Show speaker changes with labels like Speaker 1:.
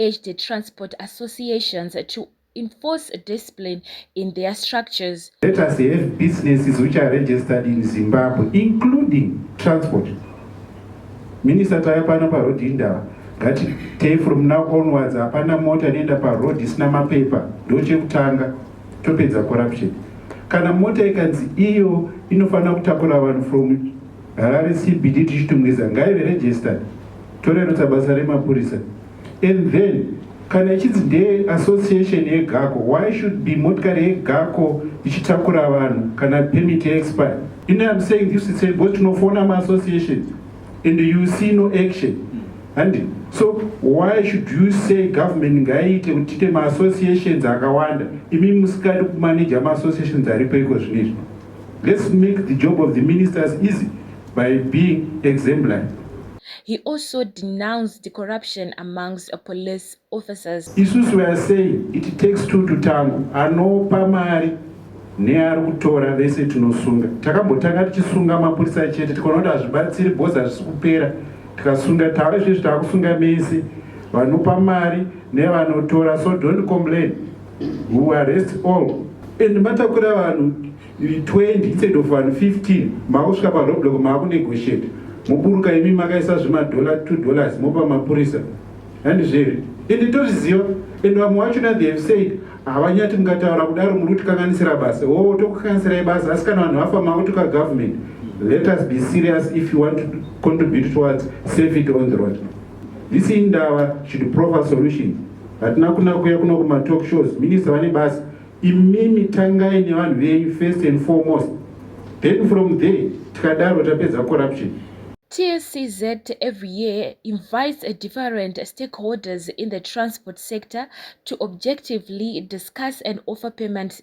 Speaker 1: urged transport associations to enforce discipline in their structures. Let us have businesses which are registered in Zimbabwe, including transport. Minister Taya Pana Parodi Indawa, that day from now onwards, Apana Mota Nenda Parodi Snama Paper, Doche Kutanga, Topeza Corruption. Kana Mota Ikanzi Iyo, Inofana Kutakura One from Harare CBD tichitungwiza ngaive registered torerutsa basa remapurisa and then kana ichinzi ndeye association yegako why should be motikari yegako ichitakura vanhu kana permit yeexpire you know im saying this itself because tinofona maassociation and you see no action handi so why should you say government ngaiite kuti tiite maassociations akawanda imi musikadi kumaneja maassociations aripo iko zvino izvi Let's make the job of the ministers easy by being exemplary. He also denounced the corruption amongst police officers. Isusu we are saying it takes two to tango. Anopa mari neari kutora vese tinosunga. Takambotanga tichisunga mapurisa chete tikaona kuti hazvibatsiri bhozi hazvisi kupera tikasunga tava izvezvi tava kusunga mese vanopa mari nevanotora so don't complain. who arrest all and matakura vanhu 20 instead of vanhu 15 maakusvika paroblock maakunegotiate moburuka imi makaisa zvemadollar 2 dollars mopa mapurisa handizvere ende tozviziva and vamwe vachona they have said havanyati mukataura kudaro muri kutikanganisira basa o oh, tokukanganisirai basa asi kana vanhu vafa makutuka government let us be serious if you want to contribute towards safety on the road This indava should proffer solutions. Hatina kuna kuya kuno kuma talk shows. Minister vane basa. Imimi tangai nevanhu venyu first and foremost. Then from there tikadaro tapedza corruption. TSCZ every year invites a different stakeholders in the transport sector to objectively discuss and offer payment